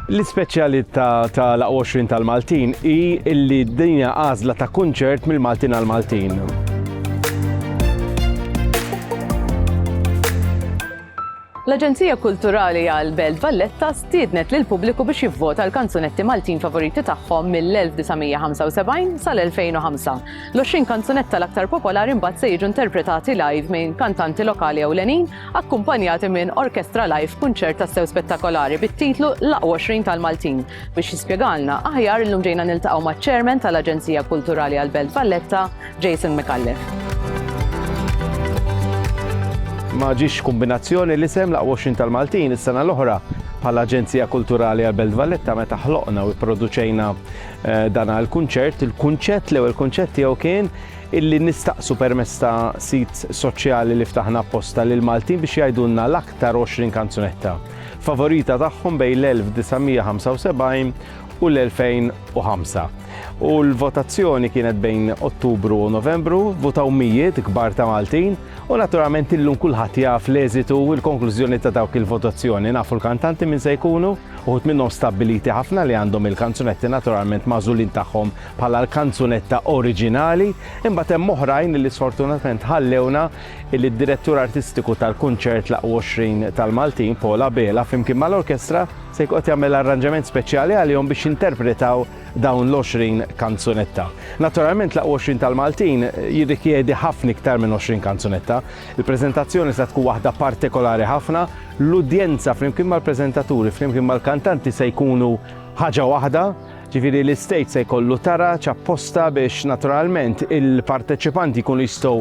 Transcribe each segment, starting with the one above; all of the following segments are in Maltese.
L-ispeċjalità tal-Aq 20 tal-Maltin hi li d-dinja għażla ta' kunċert mill-Maltin għall-Maltin. L-Aġenzija Kulturali għal Belt Valletta stiednet lil pubbliku biex jivvota l-kanzunetti Maltin favoriti tagħhom mill-1975 sal-2005. L-20 kanzunetta l-aktar popolari mbagħad se jiġu interpretati live minn kantanti lokali ewlenin akkumpanjati minn orkestra live f'kunċert tassew spettakolari bit-titlu L-Aqwa 20 tal-Maltin. Biex jispjegalna aħjar illum ġejna niltaqgħu maċ-Chairman tal-Aġenzija Kulturali għall-Belt Valletta, Jason Micallef. Ma ġiex kombinazzjoni li sem laqwa xin tal-Maltin is-sena l-oħra bħala Aġenzija Kulturali għal Belt Valletta meta ħloqna u produċejna eh, dan għal kunċert il-kunċett l-ewwel kunċett tiegħu kien illi nistaqsu permezz ta' sit soċjali li ftaħna apposta lill-Maltin biex jgħidulna l-aktar 20 kanzunetta favorita tagħhom bejn l-1975 u l-2005. U l-votazzjoni kienet bejn Ottubru u Novembru, votaw mijiet kbar ta' Maltin u naturalment illum kulħadd jaf l-eżitu u l-konklużjoni ta' dawk il-votazzjoni. Nafu l-kantanti min se jkunu, uħud minnhom stabbiliti ħafna li għandhom il-kanzunetti naturalment magħżulin tagħhom bħala l-kanzunetta oriġinali, imbagħad hemm oħrajn li sfortunatament ħallewna illi d-Direttur Artistiku tal-Kunċert L 20 tal-Maltin, Paul Abela, flimkien mal-Orkestra, se jkun qed jagħmel arranġament speċjali għalihom biex jinterpretaw dawn l-20 kanzunetta. Naturalment L 20 tal-Maltin jirrikjedi ħafna iktar minn 20 kanzunetta. Il-preżentazzjoni se tkun waħda partikolari ħafna, l-udjenza flimkien mal-preżentaturi flimkien mal-kantanti se jkunu ħaġa waħda, Ġifieri l-Istate se jkollu taraġ apposta biex naturalment il-parteċipanti jkunu jistgħu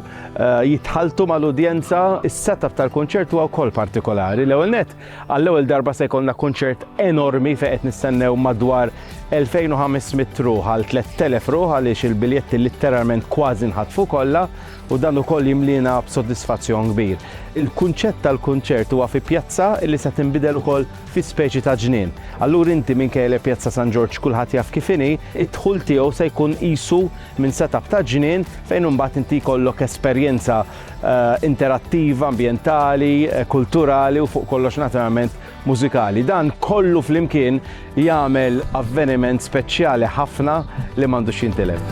jitħalltu mal-udjenza. Is-setup tal-kunċert huwa wkoll partikolari. L-ewwel nett, għall-ewwel darba se jkollna kunċert enormi fejn qed nistennew madwar 2,500 ruħ għal 3,000 ruħ għaliex il-biljetti litteralment kważi nħatfu kollha u dan ukoll jimliena b'sodisfazzjon kbir. Il-kunċett tal-kunċert huwa fi pjazza li se tinbidel ukoll fi speċi ta' ġnien. Allura inti minkejja li Pjazza San Ġorġ kulħadd jaf kif inhi, id-dħul tiegħu se jkun qisu minn set-up ta' ġnien fejn imbagħad inti jkollok esperjenza interattiva, ambjentali, kulturali u fuq kollox naturalment mużikali. Dan kollu flimkien jagħmel avveniment speċjali ħafna li m'għandux jintilef.